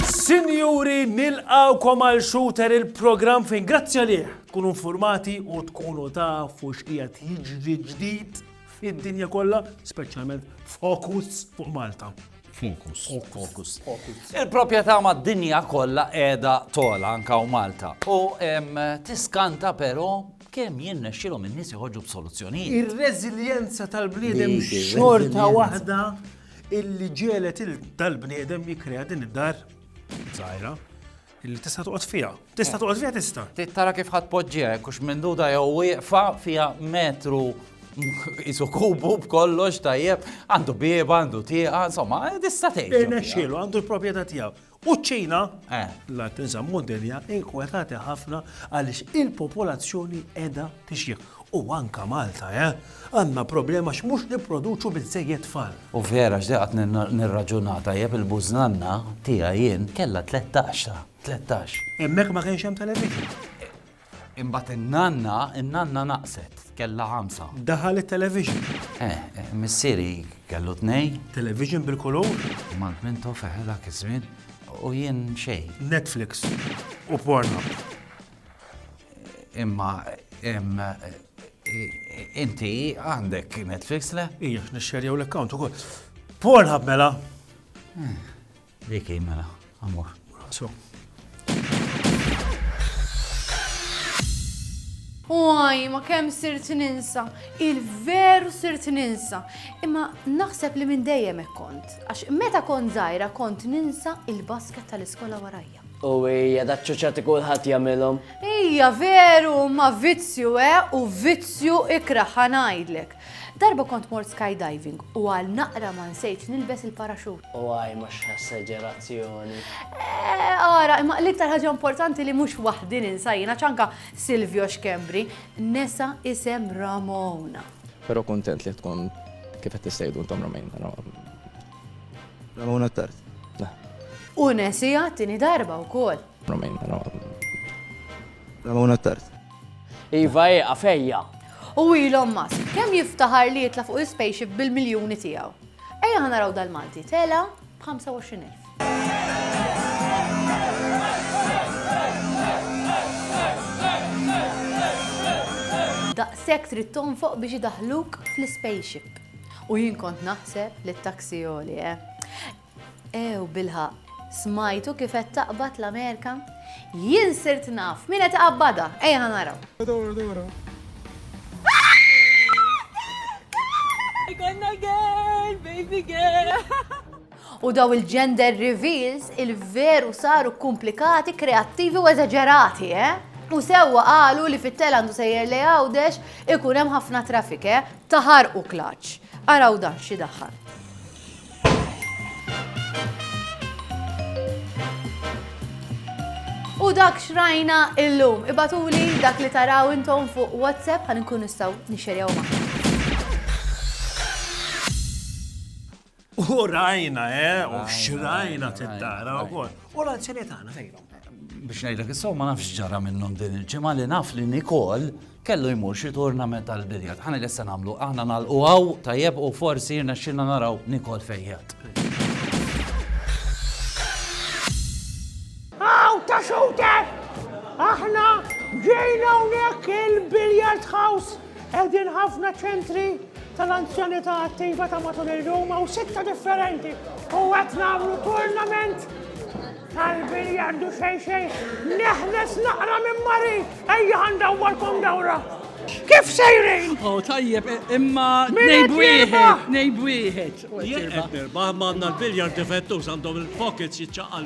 Sinjuri, nilqgħukom għal Shooter il-programm fejn grazzi għalih tkunu infurmati u tkunu tafu x'qiegħed jiġri ġdid fid-dinja kollha, speċjalment fokus fuq Malta. Fokus. Fokus. Il-proprjetà mad-dinja kollha qiegħda tola anka u Malta. U tiskanta però kemm jien nexxilhom in-nies joħorġu b'soluzzjonijiet. Ir-reżiljenza tal-bniedem xorta waħda illi ġielet tal-bniedem jikkrea din id-dar żgħira. Illi tista' toqgħod fiha. Tista' toqgħod fiha tista'. Tara kif ħadd poġġiha hekk hux minduda jew wieqfa fiha metru isu kubu b'kollox tajjeb, għandu bieba, għandu tieqa, insomma, tista' tgħid. Irnexxielu għandu l-proprjetà tiegħu. U ċina, eh. la tinżam modelja inkwetati ħafna għaliex il-popolazzjoni edha Tixjiħ. U anka Malta, eh! Għandna problema għax mhux nipproduċu biżżejjed tfal. U vera għax dejja qatt nirraġuna tajjeb il-bużnanna tiegħi jien kellha tlettax ta', tlettax. Hemmhekk ma kienx hemm television. Imbagħad in-nanna, in-nanna naqset, kellha ħamsa. Daħal it-television. Eh, eh, missieri kellu tnejn. Television bil-kulur. Mant Mintoff, eħe dak iż-żmien. U jien xejn. Netflix u Pornhub. Imma inti għandek Netflix le? Ija, nixxerjaw l-account ukoll. Pornhub mela. Dik mela, amor. So. Uaj, ma kem sirt ninsa, il-veru sirt ninsa. Imma naħseb li minn dejjem kont, għax meta kont zaħira kont ninsa il-basket tal-iskola warajja. U hija da ċċuċati kulħadd jagħmilhom. Hija veru, ma vizzju e u vizzju ikrah ħa ngħidlek. Darba kont mort skydiving u għal naqra ma nsejtx nilbes il-paraxut. U għaj ma x'essagerazzjoni. Ara, imma l-iktar ħaġa importanti li mhux waħdi ninsajjina ċanka Silvio Xkembri, nesa isem Ramona. Però kuntent li tkun kif qed tissejdu intom Ramona. Ramona Tart. U nesija tini darba u kol. Ramona Tart. Iva e, għafejja. U Elon Musk, kem jiftaħar li jitla fuq il-spaceship bil-miljoni tijaw. Ejja ħana raw dal-Malti, tela b'25,000. Daqsek trid tonfoq biex idaħluk fl-spaceship. U jien kont naħseb li t-taxi għoli, eh? Ew, bilħaqq, smajtu kif qed taqbad l-Amerika? Jien sirt naf min qed iqabbadha, ejja ħa naraw. Dora, Dora. Ikonna girl, baby girl. U daw il-gender reveals il-veru saru komplikati, kreattivi u eżaġerati, eh? U sewwa qalu li fit-tel għandu sejjer lej Għawdex ikun hemm ħafna traffic, eh? Taħarqu klaċċ. Araw dan xi daħħal. U dak xrajna illum. Ibatuli dak li taraw intom fuq WhatsApp għan nkun nistaw nixerjaw maħna. U rajna, eh, u xrajna t-tara u kol. U l-anzjani tagħna fejnhom. Biex ngħidlek is ma nafx ġara minnhom din il-ġimgħa li naf li Nikol kellu jmur xi turnament tal-biljard. Ħana lesta nagħmlu aħna nagħlqu għaw tajjeb u forsi jirna xilna naraw Nikol fejjat. Aw ta' xewter! Aħna ġejna hawnhekk il-biljard house Qegħdin ħafna ċentri tal-anzjanità attiva ta' matul il-lum u sitta differenti u qed nagħmlu turnament tal-biljardu xejn xejn. Neħles naqra minn Mari, ejja ħandawwarkom dawra. Kif sejrin? Oh, tajjeb, e, imma nejb wieħed, nejb wieħed. Jien qed nirbaħ ma għandna l-biljar defettu għandhom il-pockets jiċċaqal.